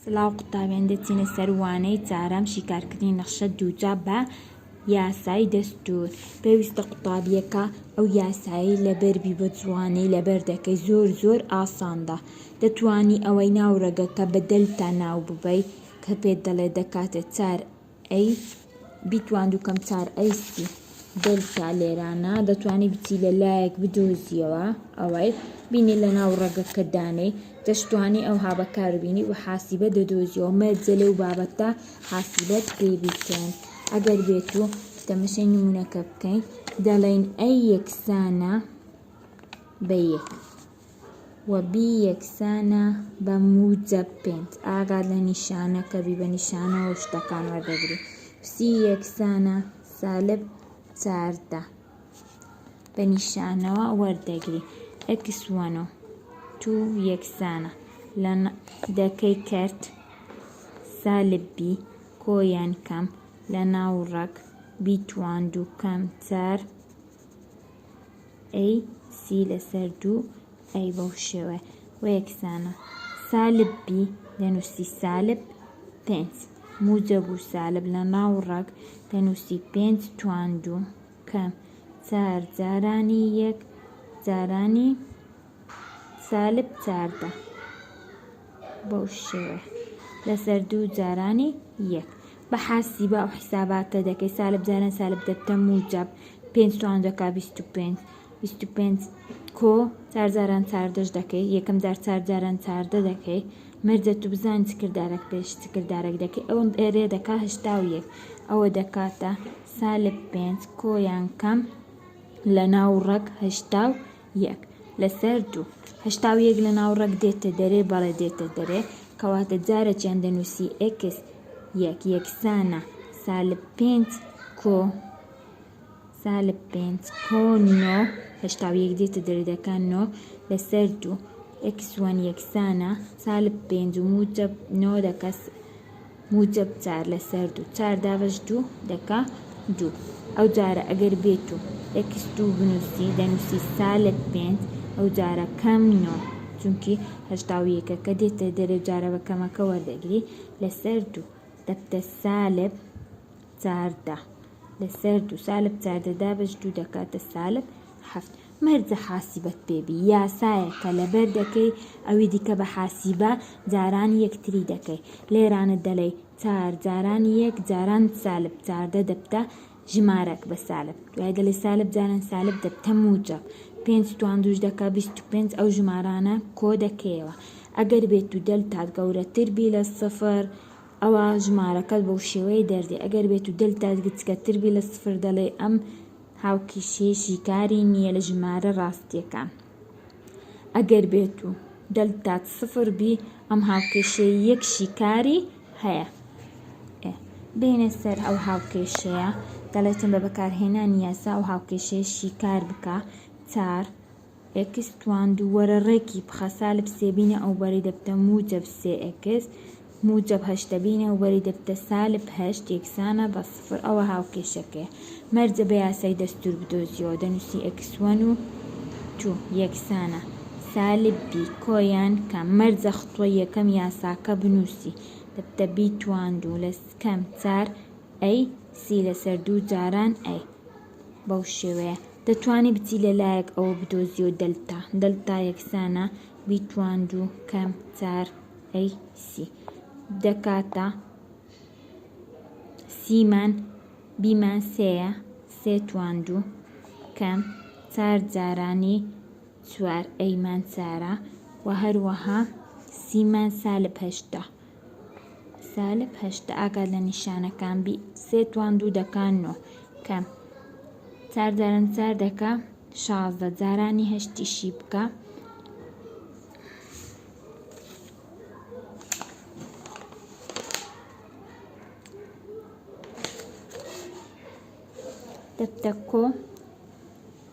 سڵاو قوتابیان دەچینە سەر وانەی چارەم شیکارکردنی نەخشە دووجا بە یاسای دەستوور پێویستە قوتابیەکە ئەو یاسایەی لەبەر بی بە جوانی لەبەر دەکەی زۆر زۆر ئاساندە دەتوانی ئەوەی ناو ڕەگەکە بە دەلتا ناو ببەی کە پێت دەڵێ دەکاتە چار ئەیس بیتواندو کەم چار ئەیسی دەلتا لێرانە دەتوانی بچی لە لایەک بدۆزیەوە ئەوەی بینی لە ناو ڕەگەکە دانەی دەشتوانی ئەو هابە کار بینی و حاسیبە دەدۆزیەوە مەرجە لەو بابەتە حاسیبەت پێ بیکەن ئەگەر بێت و تەمەشەی نمونونەکە بکەین دەڵین ئەی یەکسانە بە یەک و بی یەکسانە بە موجەب پێنج. ئاگات لە نیشانەکە بی، بە نیشانەوە شتەکان وەردەگری. سی یەکسانە سالب چاردە، بە نیشانەوە وەردەگری. ئێکس وەن و تو یەکسانە لە دەکەی کەرت سالب بی کۆ یان کەم لە ناوڕەک بی تواند و کەم چار. ئەی سی لەسەر دوو ئەی بەو شێوەیە و یەکسانە سالب بی دەنووسی سالب پێنج موجب و سالب لە ناو ڕەگ دەنووسی پێنج تواندوو کەم چار جارانی یەک جارانی سالب چاردە بەو شێوە لەسەر دوو جارانی یەک بە حاسیبە ئەو حیساباتە دەکەی سالب جاران سالب دەبتە موجب پێنج توان دەکا بیست و پێنج بیست و پێنج کۆ چار جاران چاردەش دەکەی یەکەم جار چار جاران چاردە دەکەی مەرجە تو بزان چ کردارێک پێش چ کردارێک دەکەی ئەوم ئێرێ دەکا هشتا و یەک ئەوە دەکاتە سالب پێنج کۆیان کەم لە ناو ڕەک هشتا و یەک لەسەر دوو. هەشتا و یەک لە ناوڕەگ دێتە دەرێ، بەڵێ دێتە دەرێ، کەواتە جارەکیان دەنووسی ئێکس یەک یەکسانە سالب پێنج کۆ سالب پێنج کۆ نۆ هەشتا و یەک دێتە دەرێ دەکا نۆ لەسەر دوو ئێکس وەن یەکسانە سالب پێنج و موجب نۆ دەکەس موجەب چار لەسەر دوو. چار دابەش دوو دەکا دوو. ئەوجارە ئەگەر بێت و ئێکس دوو بنووسی، دەنووسی سالب پێنج، ئەوجارە کەم نۆ، چونکی هەشتا و یەکەکە دێتە دەرێ جارە بە کەمەکە وەردەگری، لەسەر دوو دەبتە سالب چاردە. لەسەر دوو سالب زادە دابەش دوو دەکاتە سالب حەفت مەرجە حاسیبەت پێبی یاسایە کە لەبەر دەکەی ئەوی دیکە بە حاسیبە جاران یەکتری دەکەی لێرانە دەلێی چار جاران یەک جاران سالب چاردە دەبتە ژمارەک بە سالب دوای دەلێ سالب جاران سالب دەبتە موجب پێنج توان دوش دەکا بیست و پێنج ئەو ژمارانە کۆ دەکەیەوە ئەگەر بێت و دەلتات گەورەتر بی لە سفر ئەوا ژمارەکەت بە وشێوەیە دەردێ ئەگەر بێت و دەلتات گچکەتر بی لە سفر دەڵێی ئەم هاوکیشەیە شیکاری نییە لە ژمارە ڕاستییەکان ئەگەر بێت و دەلتات سفر بی ئەم هاوکێشەیە یەک شیکاری هەیە ئێ بێنە سەر ئەو هاوکێشەیە دەڵێتن بە بەکارهێنانی یاسا ئەو هاوکێشەیە شیکار بکە چار ئێکس تواندو وەرە ڕێکی بخە سالب سێ بینە ئەوبەری دەبتە موجەب سێ ئێکس موجەب هەشتە بینە ئەوبەری دەبتە سالب هەشت یەکسانە بە سفر ئەوە هاوکێشەکەیە مەرجە بە یاسای دەستور بدۆزیەوە دەنوسی ئێکس وەن و تو یەکسانە سالب بی کۆ یان کەم مەرجە خطوە یەکەم یاساکە بنوسی دەبتە بی تواندو لە کەم چار ئەی سی لەسەر دوو جاران ئەی بەو شێوەیە دەتوانی بچی لە لایەک ئەوە بدۆزیەوە دەلتا دەلتا یەکسانە بی توان دوو کەم چار ئەی سی دەکاتە سیمان بیمان سێە سێ توان دوو کەم چار جارانی چوار ئەیمان چارە و هەروەها سیمان سالب هەشتا سالب هەشت ئاگات لە نیشانەکان بی سێ توان دوو دەکا نۆ کە چار جاران چار دەکا شازدە جارانی هەشتیشی بکە دەبتە کۆ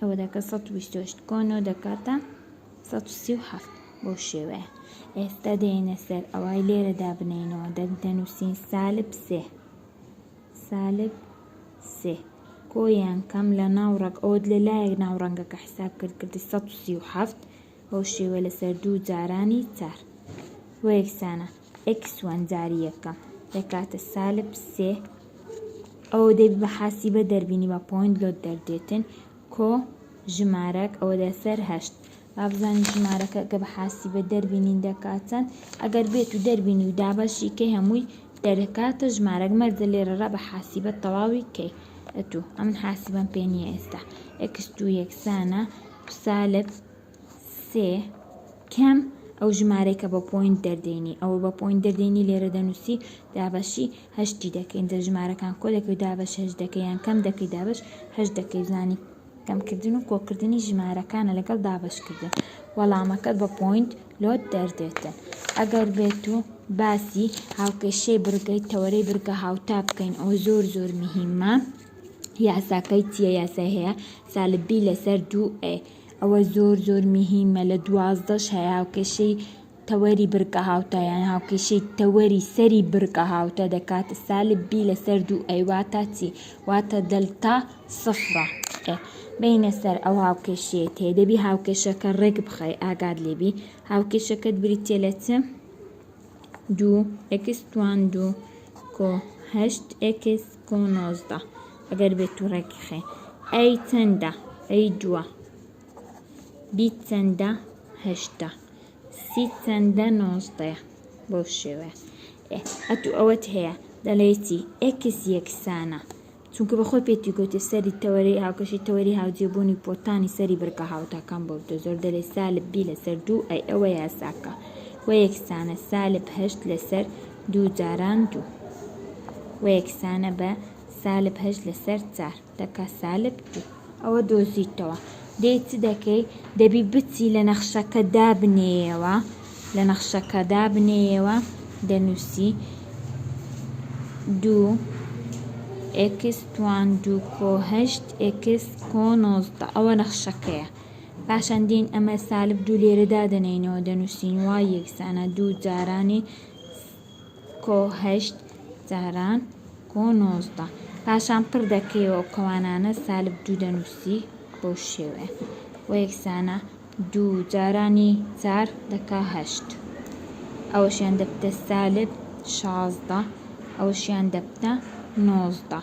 ئەوە دەکە سەد و بیست و هەشت کۆنۆ دەکاتە سەد و سی و حەفت بەو شێوەیە ئێستا دێنە سەر ئەوای لێرە دابنینەوە دەک دەنووسین سالب سێ سالب سێ کۆیان کەم لە ناو ڕەگ ئەوت لە لایەک ناو ڕەنگەکە حساب کرد کردی سەد و سی و حەفت بەو شێوە لەسەر دوو جارانی چار بۆ یەکسانە ئێکس وان جاری یەکەم دەکاتە سالب سێ ئەوە دەبی بە حاسیبە دەربینی بە پۆینت لۆت دەردێتن کۆ ژمارەک ئەوە دە سەر هەشت بابزانین ژمارەکە کە بە حاسی بە دەربینین دەکاتەن ئەگەر بێت و دەربینی و دابەشی کەی هەمووی دەرەکاتە ژمارەک مەرزە لێرەڕە بە حاسی بە تەواوی کەی ئەتوو ئەمن حاسی بەم پێ نییە ئێستا ئەکس دوو یەکسانە ڕسالەت سێ کەم ئەو ژمارەی کە بە پۆینت دەردێنی ئەوە بە پۆینت دەردێنی لێرە دەنوسی دابەشی هەشتی دەکەی ئینجا ژمارەکان کۆ دەکەی و دابەش هەشت دەکەی یان کەم دەکەی دابەش هەشت دەکەی بزانی کەم کردن و کۆ کردنی ژمارەکانە لەگەڵ دابەش کردن وەڵامەکەت بە پۆینت لۆت دەردێتن ئەگەر بێت و باسی هاوکێشەی بڕگەی تەوەرەی بڕگە هاوتا بکەین ئەوە زۆر زۆر مهمە یاساکەی چیە یاسای هەیە سالب بی لەسەر دوو ئەی ئەوە زۆر زۆر میهیمە لە دوازدەش هەیە هاوکێشەی تەوەری بڕگە هاوتا یان هاوکێشەی تەوەری سەری بڕگە هاوتا دەکاتە سالب بی لەسەر دوو ئەی واتا چی واتە دەلتا سفرە بینە سەر ئەو هاوکێشەیە تێ دەبی هاوکێشەکە ڕێک بخەی ئاگات لێبی هاوکێشەکەت بریتیە لە چ دوو ئێکس توان دوو کۆ هەشت ئێکس کۆ نۆزدە ئەگەر بێت تو ڕێکی خێ ئەی چەندە ئەی دووە بی چەندە هەشتە سی چەندە نۆزدەیە بەو شێوەیە ئەتو ئەوەت هەیە دەڵێتی ئێکس یەکسانە چونکە بە خۆی پێتی گوتی سەری تەوەرەی هاوکێشی تەوەری هاوجێبوونی پۆتانی سەری بڕگە هاوتاکان بۆ بتە زۆر دەلێ سالب بی لەسەر دوو ئەی ئەوە یاساکە وە یەکسانە سالب هەشت لەسەر دوو جاران دوو وە یەکسانە بە سالب هەشت لەسەر چار دەکا سالب دوو. ئەوە دۆزیتەوە دەی چ دەکەی دەبی بچی لە نەخشەکە دابنێیەوە لە نەخشەکە دابنێیەوە دەنووسی دوو ئێکس توان دوو کۆ هەشت ئێکس کۆ نۆزدە ئەوە نەخشەکەیە پاشان دێین ئەمە سالب دوو لێرە دادەنێینەوە دەنووسین وای یەکسانە دوو جارانی کۆ هەشت جاران کۆ نۆزدە. پاشان پڕ دەکەیەوە ئەو کەوانانە سالب دوو دەنووسی بەو شێوەیە و یەکسانە دوو جارانی چار دەکا هەشت ئەوەشیان دەبتە سالب شازدە ئەوەشیان دەبتە نۆزدە.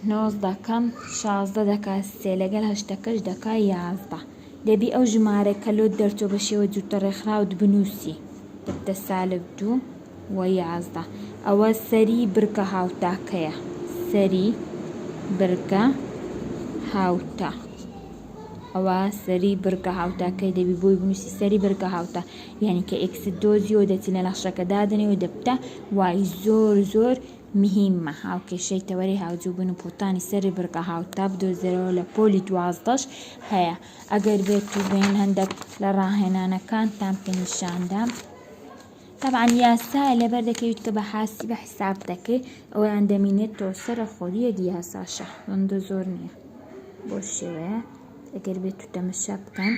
نۆزدە کەم شازدە دەکا سێ لەگەڵ هەشتەکەش دەکا یازدە. دەبی ئەو ژمارە کە لۆت دەرچۆ بە شێوە جووتە ڕێکخراوت بنووسی دە سالب دوو و یازدە ئەوە سەری بڕگە هاوتاکەیە سەری بڕگە هاوتا ئەوە سەری بڕگە هاوتاکەی دەبی بۆی بنووسی سەری بڕگە هاوتا یعنی کە ئێکست دۆزیەوە دەچی لە نەخشەکە دادنێ و دەبتە وای زۆر زۆر مهیمە هاوکێشەی تەوەرەی هاوجوبون و پوتانی سەری بڕگە هاوتا بدۆزێرەوە لە پۆلی دوازدەش هەیە ئەگەر بێت و بێن هەندێک لە ڕاهێنانەکانتان پێ نیشاندا طبعا یاسا لەبەر دەکەویت کە بە حاسی بە حساب دەکەیت ئەویان دەمینێت تۆ سەرە خۆریە دیاساشە هەندە زۆر نییە بۆ شێوەیە ئەگەر بێت و تەمەشا بکەن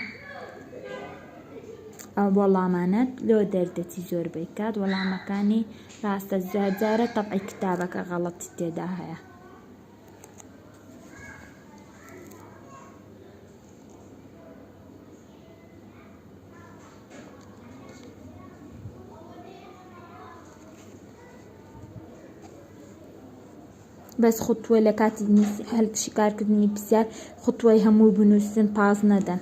ئەو وەڵامانەت لۆ دەردەتی زۆر بکات وەڵامەکانی ڕاستە جار جارە تەبعی کتابەکە غەڵەتی تێدا هەیە. بەس خوتوە لە کاتی نوسی هەل شیکار کردنی پسیار خوتوەی هەموی بنوسن پاس نەدەن.